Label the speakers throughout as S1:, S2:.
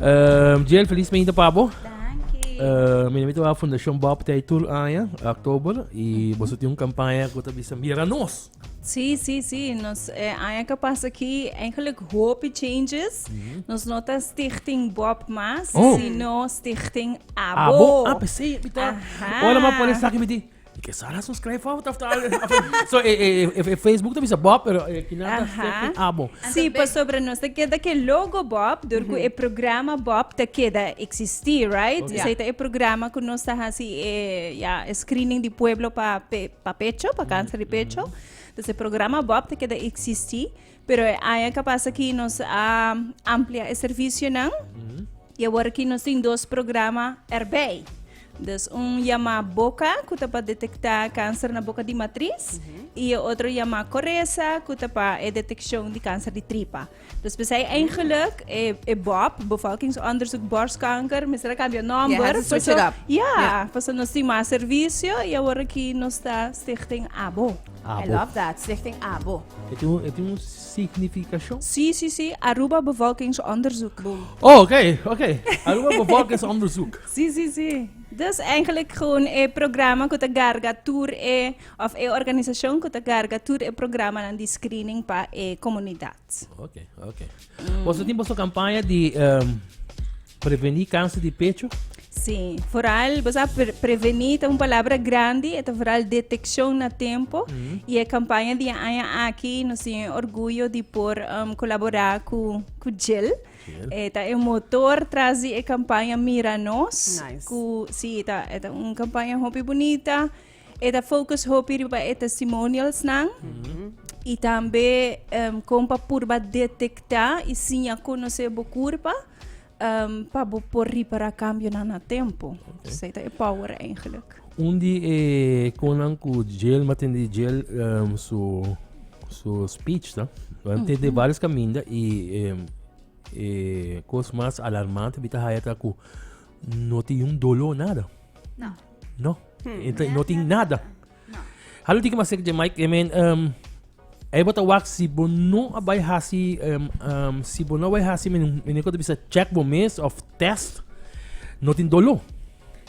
S1: Ehm, Jill,
S2: feliz meinta pa bo. Dankie. Eh,
S1: mi mito a Fundación
S2: Bob te tur aña, oktober, y vos tiene un campaña que te bisa mira nos. Sí, sí, sí.
S3: Nos eh, aña que pasa aquí, eigenlijk hopi changes. Nos no ta Stichting Bob más, Oh. sino
S2: Stichting
S3: Abo. Abo, ah,
S2: pensé, mita.
S3: Ajá.
S2: Hola, ma por estar
S3: aquí, miti.
S2: Di ke Sara su skrij fout of ta algo así. So e e e e Facebook ta bisa Bob pero e kina ta Aha. seki abo. Sí, pasobra nos
S3: ta keda ku e logo Bob, dor ku e programa Bob ta keda eksistí, right? Ok. Esei ta e programa
S2: ku
S3: nos ta hasi e, ya, e screening di pueblo pa pe, pa pecho, pa kanser di pecho. Entonces, e programa Bob ta keda eksistí, pero e aña kapasa ku nos a amplia e servisionan. I aworakí nos tin dos programa erbei. Dus un yamá Boka ku ta pa detektá kanser na boka di matris i e otro yamá Koresa ku ta pa e detekshon di kanser di tripa. Dus p'esei eingeluk e e BOP, Bevolkingsonderzoek Borstkanker, mester a kambia nòmber. They have to switch paso- it up.
S4: Ja, Ja. paso nos
S3: tin mas servisio i aworakí nos ta Stichting Abo. I Abo. love that,
S4: Stichting Abo. E tin un, e tin un
S2: significacion? Sí, sí, sí,
S3: Aruba bevolkingsonderzoek. Oh, ok,
S2: ok, Aruba bevolkingsonderzoek. Sí, sí, sí.
S3: Dus eigenlijk gewoon e programa ku ta garga tur e, of e organisacion ku ta garga tur e programanan di screening pa e komunidat. Ok,
S2: ok. Boso tin boso campaña di. Prevení kanser di pecho? Sí,
S3: foral bo sa prevení ta un palabra grandi, e ta foral detekshon na tempu i e kampaña di e aña aki nos tin e orguyo di por kolaborá ku JIL. E ta e motor tras di e kampaña Mira nos ku sí
S4: e
S3: ta un kampaña hopi bunita. E ta focus hopi riba e testimonialsnan y tambe em, con pa purba detecta y siña conoce bo curpa em, pa bo por repara cambionan na tempo. So, e ta e power eigenlijk. Un di e
S2: konan ku jail matin di jail ehm, su su speech ta. Want te de varios kaminda i ehm, e kos mas alarmante bita haya ta ku no ti un dolo nada. No. No. Enta no tin nada. Halo tiki mas sek Mike, I mean, um, Aí bota wak si bo no abai hasi um, um, si bo no abai hasi men men ko bisa check bo mes of test no tin dolo.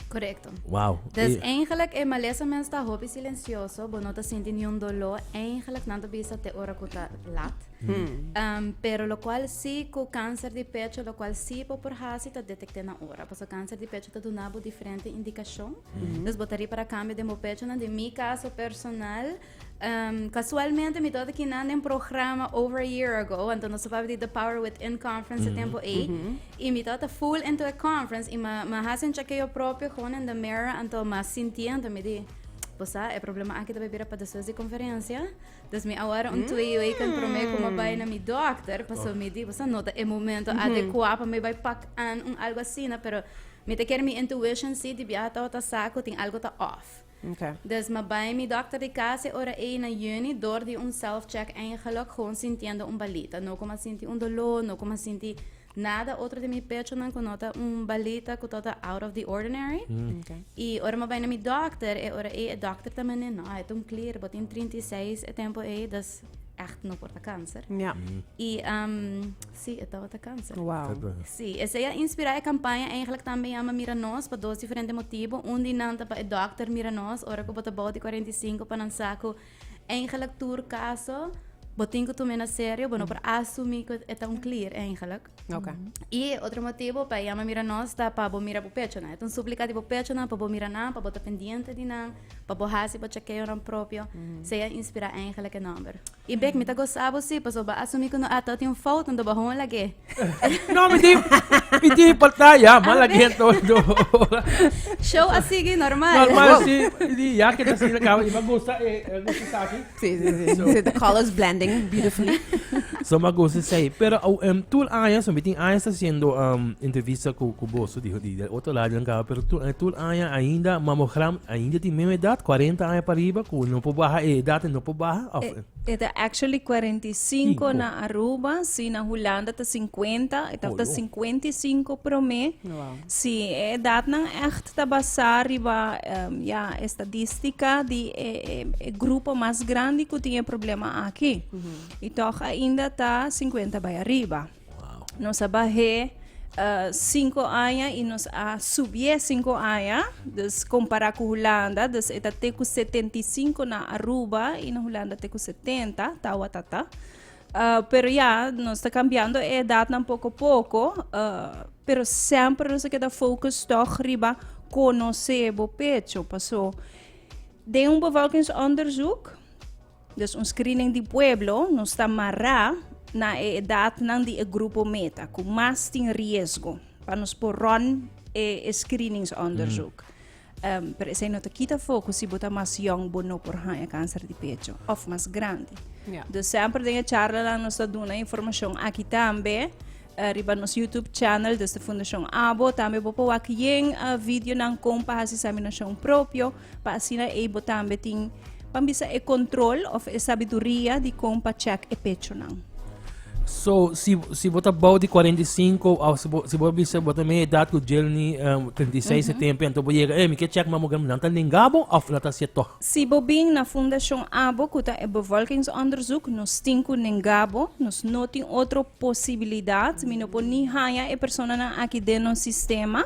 S2: Correcto.
S1: Wow. Dus
S2: eh. eigenlijk
S1: e malesa mens ta hopi silencioso, bo no ta sinti ni un dolo, eigenlijk nan ta bisa te ora kuta lat. Um, pero locual sí cu cáncer di pecho, locual sí bo por haci ta detecté na hora. Paso cáncer di pecho ta duna bo diferente indicación. Mm. Dus bo ta para cambio de bo pecho, na de mi caso personal, um, casualmente mi dota que nan en programa over a year ago, anto no sabab di The Power Within Conference mm -hmm. tempo e, mm -hmm. y mi dota full into a conference, y ma, ma hace un chequeo propio gewoon in the mirror, anto ma sintiendo mi di, pues ah, e problema aquí ta bebira pa después de conferencia, Dus mi awor un twee week en prome ku mi a bai na mi dokter, paso mi di, boso no ta e momento adekua pa mi bai pak an un algo asina, pero mi ta kere mi intuition si di biaha tabata sa ku tin algo ta off. Okay. Dus mi a
S4: bai mi
S1: dokter di kas e ora ei na yüni dor di un self-check eingeluk, gewoon sintiendo un balita. No ku mi a sinti un doló, no ku mi a sinti Nada otro di mi pechonan ku no ta un balita ku tota out of the ordinary. Okay. I ora
S4: mi bai na mi
S1: dokter, e ora ei e dokter ta mane, no, e tum clear, bo tin 36 e tempo ei, dus echt no por ta kanser. Ja. I
S4: um,
S1: si, e tabata kanser. Wow. Kijk dan. Sí,
S4: ese ya
S1: inspirá e campaña eigenlijk también llama Mira Nos pa dos diferente motivo. Un di nan ta pa e dokter Mira Nos, ora ku bota bou di 45 pa nan sa ku Eigenlijk tur caso, bo tin ku tume na serio, bo no por asumi ku eta un clear eigenlijk. Okay. I
S4: otro motivo
S1: pa yama mira nos ta pa bo mira bo pecho na. Eta un suplica di bo pecho na pa bo mira nan, pa bo ta pendiente di nan, pa bo hasi bo chequeo nan propio. Se ya inspira eigenlijk e number. I bek mi ta gosa bo si, pasobra bo asumi ku no ata tin un fout, unda bo hon lag'e. No, mi tin,
S2: mi tin partij, ja, maar la geen door, door.
S1: Show a sigui normal. Normal, si, die,
S2: ja, que dat is de kamer, maar gosta, eh, gosta saki. Sí, sí, sí. Zo. Zit de
S4: colors blending beautifully. So, maar gosta
S2: zei. Pero, oh, um, toen Anja, so, mi tin Anja está haciendo um, entrevista cu, cu vos, die, die, die otro lado en kamer, pero toen, eh, toen Anja ainda, mamogram, ainda die meme edad, 40 años para arriba, cu no po baja eh, edad, no po baja, of, Eh, E ta actually
S3: cuarenta y cinco Cinco. na Aruba, si na Hulanda ta cincuenta, e tafta Oyo. cincuenta y cinco promé. Wow. Si e
S4: edatnan
S3: echt ta basá riba em, ya estadística di e, e, e grupo mas grandi ku tin e problema aki. I toch ainda ta 50 bai arriba. Nos a
S2: bah'é
S3: sinku aña i nos a subié sinku aña, dus kompará ku Hulanda, dus e ta te ku setenta i sinku na Aruba i na Hulanda te ku setenta, tawatata. Pero ya, nos ta kambiando e edatnan poko poko, pero semper nos a keda fokus tòg riba konosé bo pecho. Paso den un bevolkingsonderzoek. Des un screening di pueblo, nos ta mará na e edatnan di e grupo meta cu mas tin riesgo pa nos por run e screenings-onderzoek. Ehm, pero esei no ta kita for cu si bo ta mas yong bo no por haña cancer di pecho, of mas grandi. Ja. Dus semper
S4: den e
S3: charlanan nos ta duna informacion aki tambe eh, riba nos YouTube channel desde Fundacion Abo. Tambe bo por wak yen eh, videonan con pa haci examinacion propio. pa asina ei bo tambe tin, pan bisa e control of e sabiduria di con pa check e pechonan. So,
S2: si, si bo ta bou di 45, of si bo, si bo bisa bo ta meia edad cu Jelny um, 36 e tempo, anto bo yega, eh, mi ke check mammogram, nan ta nenga bo of nan ta hacia toch? Si bo bin na
S3: fundacion abo cu ta e bevolkingsonderzoek, nos tin cu nenga bo, nos no tin otro posibilidad, mi no por ni haya e personanan aki den nos sistema,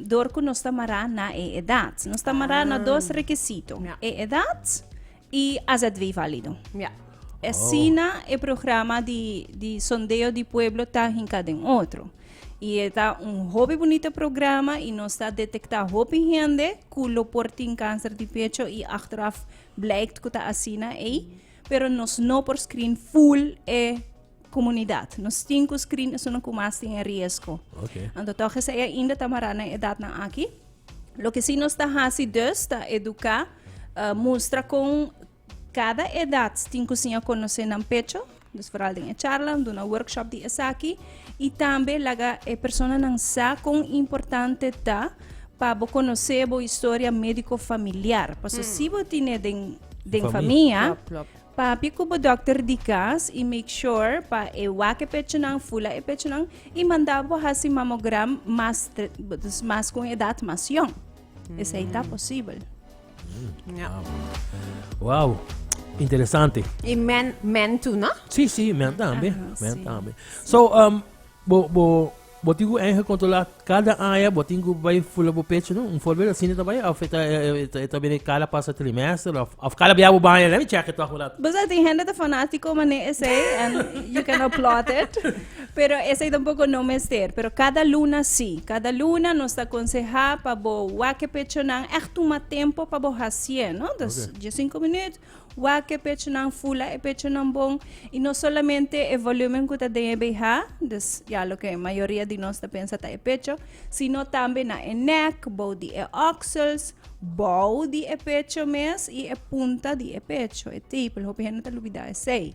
S3: dor ku nos ta mará na e edat. Nos ta mará na dos rekisito, Ya. e edat i AZW válido. Ja.
S4: Asina
S3: e programa di, di Sondeo di Pueblo ta hinká den otro. I e ta un hopi bunita programa i nos ta detektá hopi hende ku lo por tin kanser di pecho i achteraf bleikt ku ta asina ei, pero nos no por screen full e komunidat. Nos tin ku skri na esunnan ku mas tin e riesgo. Okay. Anto tòg
S2: esei ainda
S3: ta mará na e edatnan aki. Loke si nos ta hasi dus ta eduká, eh, mustra kon kada edat tin ku siña konosé nan pecho, dus foral den e charla, duna workshop di esaki, i tambe laga e personanan sa kon importante ta pa bo konosé bo historia médiko familiar. Paso si bo tine den, den Famia. familia. Klòp, klòp. Papia ku bo dòkter di kas i make sure pa e wak e pechunan, fula e pechunan i manda bo hasi mamogram mas, dus mas ku un edat mas yòn. Esei ta posibel.
S2: Wow, interesante. I men,
S4: men tu, no? Si, si, men tambe.
S2: Aha, Men si. tambe. So,
S3: um,
S2: bo, bo, Bo tin ku enhe kontrolá kada aña bo tin ku bai fula bo pechu no un forbel asina ta bai of e ta bini kada pasa trimester of kada bia bo baña let me chèk it tòg un ratu. Bisai tin hende ta
S3: fanátiko mané esei and you can applaud it pero esei tampoko no mester pero kada luna si kada luna nos ta konsehá pa bo wak e pechonan ègt tuma tempo pa bo hasié no dus dies sinku minüt Wak e pechonan, fula e pechonan bon y no solamente e volumen cu ta den e behá, dus ya loke e mayoria di nos ta pensa ta e pecho, sino tambe na e nek, bou di e oksels, bou di e pecho mes y e punta di e pecho, e tepel, hopi hende ta lubida esey.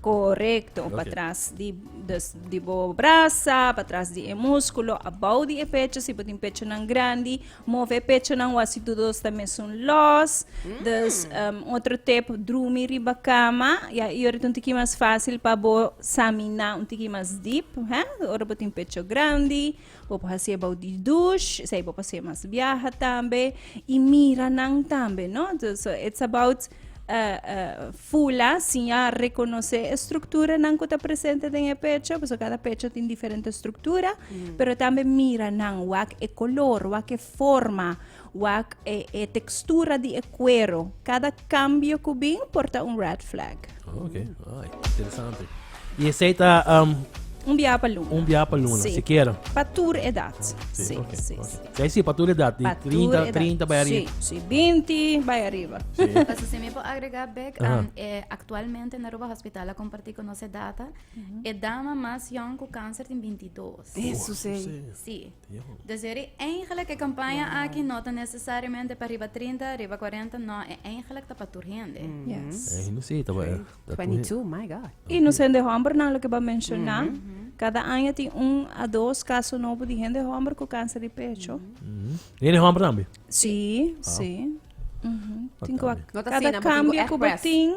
S2: Korekto,
S3: patras di bo brasa, patras di e muskulo, abou di e pecho, si bo tin pechonan grandi, move e pechonan wak si tur dos ta mesun lòs. Dus otro tip, drumi riba kama, ya i ora ta un tiki mas fásil pa bo saminá un tiki mas dip, ora bo tin pecho grandi. Bo por hasié bou di dush, esei bo por hasié mas biaha tambe, i mira nan tambe, no? Dus, so it's about uh, uh, fula, sin ya reconoce e structuranan cu ta presente den e pecho, paso cada pecho tin diferente structura, pero tambe mira nan, wak e color, wak e forma, Wak e e textura di e cuero. Cada cambio cu bin por ta un red flag. Oh, ok. Ay,
S2: interesante. Y esey ta um, Un biaha pa
S3: luna. un biaha pa luna, Sí. si quiero.
S2: Pa tur edad.
S3: Sí, Sí, ok, sí, ok. sí.
S2: Zij zie, patur
S3: edad,
S2: die Pa tur 30, edad. 30 bij arriba. Sí, sí, 20
S3: bij arriba. Paso si mi por
S1: agregar back, Aha. um, eh, actualmente na Aruba Hospital a compartir con nos e data, e dama más young con cáncer tin 22. Eso sí.
S4: Sí.
S1: Deseri, Eigenlik e kampaña aki no ta nesesariamente pa riba trinta, riba kuarenta, no, e eigenlik ta pa tur hende.
S4: I nos hende hòmbernan
S3: loke bo a menshoná, kada aña tin un a dos kaso nobo di hende hòmber ku kanser di pecho.
S2: Sí, sí.
S3: Tin ku a kada
S4: kambio ku bo
S3: tin.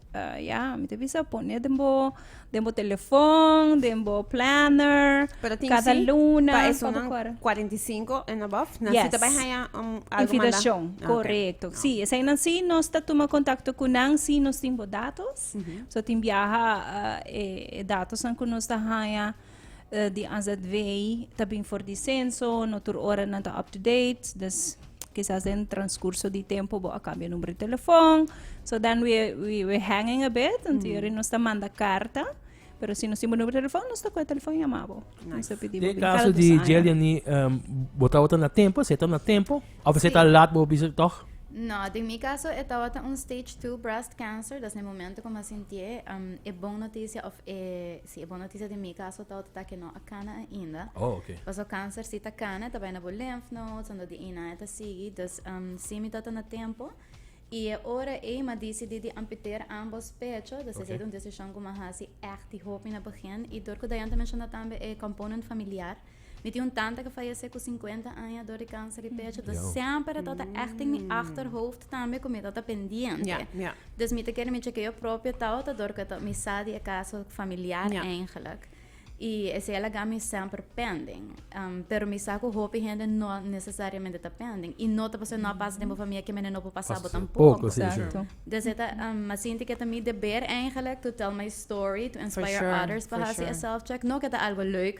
S3: ya, mi ta bisa pone den bo, den bo telefòn, den bo planner, Pero tin kada sí, luna, pa pa bo esunnan
S4: kòrè. 45 and above, nan Yes. sí ta bai haya um, algo manda. Invitacion, Ah,
S3: ok. correcto. Sí, eseinan sí nos ta tuma contacto cu nan si nos tin bo datos. So tin biaha ah, e, e datosnan cu nos ta haya. eh, di AZV ta bin for di censo, no tur ora nan ta up to date, dus quizás den transcurso di tempo bo a cambia numero de telefoon. So then we, we, we hanging a bit, want mm. yuri nos ta manda carta. Pero si nos timo numero de telefoon, nos ta coe telefoon llamabo. Nice. Nos pidi De caso
S2: di Jeliani, um, bota wata na tempo, seta na tempo, of seta sí. laat bo bisa toch? No, de mi caso,
S1: e tawata un stage 2 breast cancer, das ne momento como sintie, um, e bon noticia of e Si e bon notisia den mi caso ta ota ta ke no a kana ainda. Oh, ok. Paso cancer
S2: si ta
S1: kana ta bai na bo lymph nodes ando di ina e ta sigui. Dus um, si mi ota na tempo y e ora ey mi a dicidi di amputer ambos pecho, dus esey ta un decision cu mi a haci echt di hopi na begin y door cu Dayan ta menciona tambe e component familiar, Mi tin un tanta ke fayesé ku sinkuenta aña dor di kanser di pecho. Dus Yo. semper e tabata ègt in mi achterhoofd tambe ku mi tabata pendiente. Ja, ja. Dus mi ta kere mi chekea propio tabata dor ku e ta mi sa di e kaso familiar Ja. eigenlijk. I esei a laga mi semper pending. Am, pero mi sa ku hopi hende no nesesariamente ta pending. I no ta pasobra no a pasa den bo familia ke menen no por pasa bo tampoko. Poko, si, si. Exacto. Dus e
S3: ta, am,
S1: a sinti ku e ta mi deber eigenlijk to tell my story, to inspire sure, others pa for hasi e sure. self-check. No ku e ta algo leuk,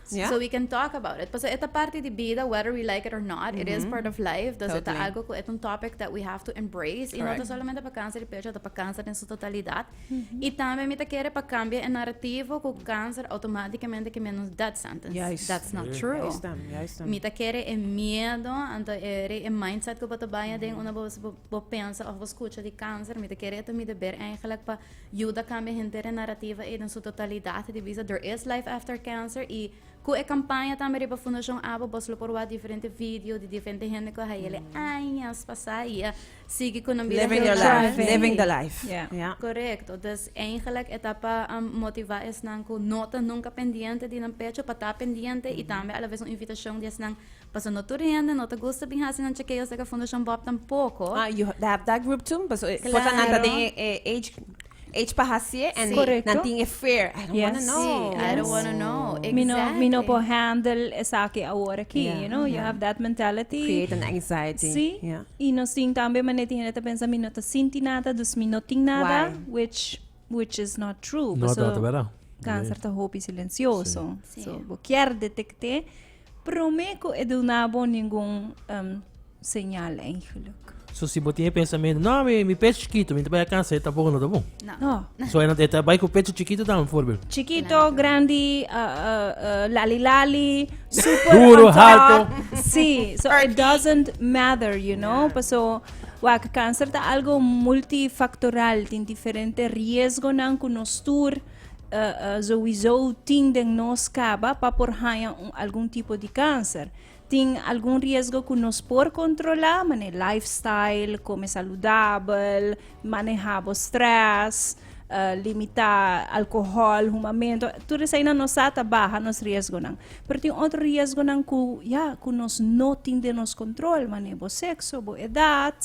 S1: So we
S4: can talk
S1: about it pasobra e ta parti di bida whether we like it or not it is part of life dus e ta algo ku e ta un topic that we have to embrace y no ta solamente pa kanser di pecho ta pa kanser den su totalidad y tambe mi ta kere pa kambia e narativo ku kanser automaticamente ke menos death sentence that's not true mi ta kere e miedo anto e rei e mindset ku bo ta baña den unda bo pensa of bo skucha di kanser mi ta kere e ta mi deber eigenlijk pa Yuda kambia henter e narrativa ei den su totalidat di bisa Der is Life After Cancer i ku e kampaña tambe riba Fundashon Abo bos lo por wak diferente video di diferente hende ku a hayele añas pasá i a sigui ku nan bida Living your helemaal life. Triving. Living
S4: the life. Ja. Ja. Korekto.
S3: Dus
S1: eingelik e ta pa um, motivá esnan ku no ta nunka pendiente di nan pecho pa ta pendiente i tambe alavez un invitashon di esnan Paso no tur hende no ta gusta bin hasi nan chekeos leka Fundacion Bob tampoco. Ah, you ha- they have that
S4: group too? Paso, eh, Claro. cosa nan ta den e-
S1: e age,
S4: age pa hasié en Sí. Correcto. nan tin e fear. I
S3: don't wanna
S4: Yes. know. Sí, I don't Yes. wanna know.
S1: Exactly. Mi no, mi no por handle
S3: esaki ahora aquí, Yeah. you know, you have that mentality. Create an anxiety.
S4: Sí, Yeah. y nos
S3: tin
S4: tambe
S3: mané tin hende ta pensa mi no ta sinti nada, dus mi no tin nada, Why? which Which is not true. No paso ta verdad. Cáncer
S2: ta hopi
S3: silencioso. Sí. So, bo kier detecté, promé ku e duna bo ningun um, señal eigenlijk. So si bo tiene
S2: pensamiento, no, mi, mi pecho chiquito, mi trabaja cáncer, e tampoco no ta bon. No. No. So e no
S3: te trabaja ku
S2: pecho chiquito dan voorbeeld. Chiquito, Claro. grandi,
S3: uh, uh, uh, lali lali, super Duro, on top. alto. Sí,
S2: so it Perky.
S3: doesn't matter, you know. Paso Wak, cáncer ta algo multifactoral, tin diferente riesgonan cu nos tur uh, uh, sowieso tin den nos caba pa por haña un, algun tipo di cáncer. Tin algun riesgo cu nos por controla, mané lifestyle, come saludabel, manejabo stress, uh, limita alcohol, humamento, tur esai na nos ata baha nos riesgo nan. Pero tin otro riesgo nan ku ya ku nos no tin de nos control, mane bo sexo, bo edad,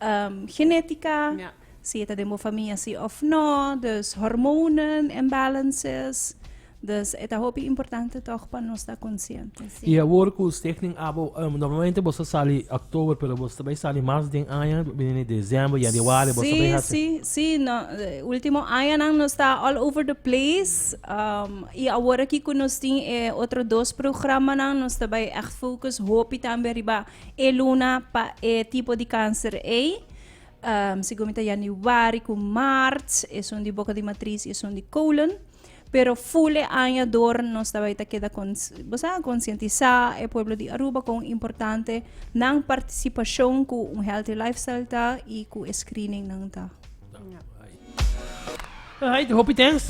S3: um, genetica, yeah. si
S4: eta den bo familia
S3: si of no, dus hormonen imbalances. Dus e ta hopi importante tòg pa nos ta konsiente. I awor ku usted
S2: tin abo, normalmente boso sali October pero boso ta bai sali mas den aña, bini December, Januari, boso ta bai hasi. Sí, sí, sí, no,
S3: último añanan nos ta all over the place. Um, i awor aki ku nos tin e otro dos programanan, nos ta bai ègt focus hopi tambe riba e luna pa e tipo di kanser ei. Um, segun mi ta Januari ku Maart, esun di boka di matris i esun di kolon. Pero fule aña dor nos ta bai ta keda cons bosa conscientisa e pueblo di Aruba con importante nan participacion cu un healthy lifestyle ta y cu e screening nan ta.
S2: Alright, hopi thanks.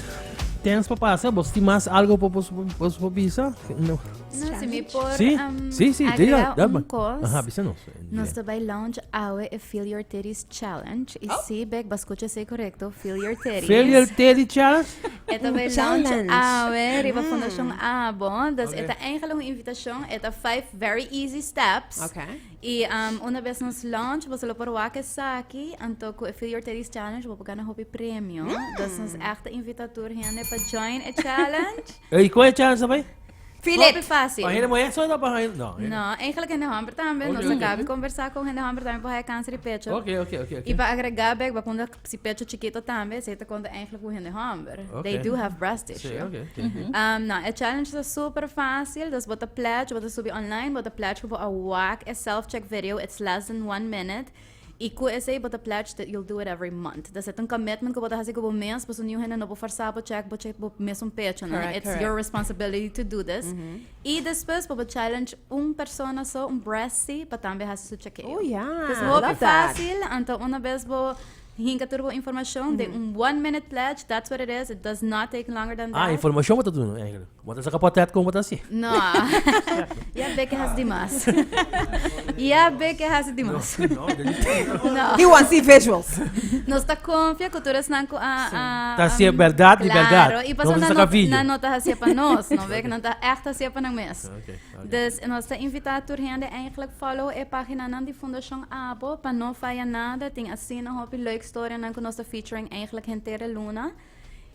S2: Thanks pa pasa. Vos tin mas algo pa vos vos vos bisa? No. No, si mi por
S1: Sí, um, sí, sí, diga,
S2: agregar daba. un
S1: cos. Ajá,
S2: bisa nos.
S1: Nos
S2: ta bai launch
S1: awe e Feel Your Titties Challenge. I si, bek, bo a skucha esei korekto, Feel Your Titties. Feel Your Titty
S2: Challenge? E ta bai launch
S1: awe riba Fundashon Abo. Dus e ta eigentlik un invitashon. E ta vijf very easy steps. I
S4: una
S1: bes nos launch, boso lo por wak esaki. Anto ku e Feel Your Titties Challenge bo por gana hopi premio. Dus nos ègt ta invita tur hende pa join e challenge. Ey, con e chance
S2: bay? Philip! Hopi fácil.
S1: Pa hende mujer so ta pa
S2: hende. No. eh. No, eigenlijk hende homber
S1: tambe. Oké, Nos oké. acabi conversá con hende homber tambe pa haya cáncer di pecho. Oké, oké, oké. oké. Y pa
S2: agregar
S1: bek, ba kunda si pecho chikito tambe, esei ta konta eigenlijk hoe hende homber. They Oké. do have breast Sí, tissue. oké, oké, oké. Um,
S2: nou, e
S1: challenge is super fácil. Dus bota pledge, bota subi online, bota pledge ku bo a wak e self-check video. It's less than one minute. I cu esey bo ta pledge that you'll do it every month. That's it. Un commitment cu bo ta haci cu bo mes, pasobra niun hende no por forsa bo check bo check bo mesun pecho, nan. It's your responsibility to do this. I despues por bo challenge un persona so, un bressy, pa tambe haci su chekeo. Oh, ya. I love that. It's hopi
S4: facil,
S1: anto
S4: una bes
S1: bo hinca tur bo informacion den un one minute pledge, that's what it is, it does not take longer than that. Ah, informacion bo ta duna, eigenlijk.
S2: Bo ta saca portret como bo ta haci. No,
S1: ya be ke haci di mas. Ya be ke haci di mas. No. He want see visuals.
S4: Nos ta
S1: confia cu tur esnan cu a a Ta a haci berdad
S2: di berdad. Claro, y No pasobra bo ta nan
S1: saca no video.
S2: nan
S1: no ta
S2: haci'e pa nos,
S1: no be, nan ta echt haci'e pa nan mes. Ok, ok. Dus
S2: nos ta
S1: invita tur hende eigenlijk follow e paginanan di Fundacion Abo pa no faya nada. Tin asina hopi leuk storianan cu nos ta featuring eigenlijk henter e luna.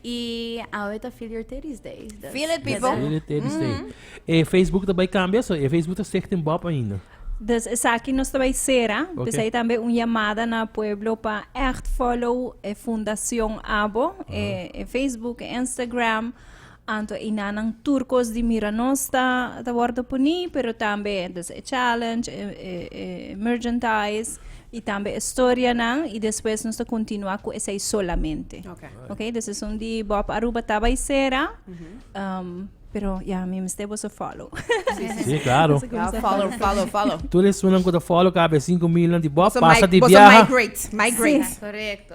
S1: Y awe ta Feel Your Titties Day. Dus Feel it, people.
S4: Feel it,
S2: titties day. E Facebook ta bai cambia, so e Facebook ta Stichting Bob ainda. Dus esaki
S3: nos ta bay cera. Oké. P'esei tambe un
S2: llamada
S3: na pueblo pa echt follow e fundacion abo, e, e Facebook, e Instagram. Anto e nanan turcos di mira nos ta ta wordo puní pero tambe entos e challenge e e merchandise i tambe e storianan i despues nos ta continua cu esei solamente Okay. okay de seson di Bob Aruba ta bai sera um, pero ya mi mester boso follow Sí, claro.
S2: Ja, follow, follow,
S4: follow. Tur e sunan cu ta
S2: follow cabecín cu milnan di Bob So, pasa mi- di boso biaha.
S4: migrate, migrate. Correcto.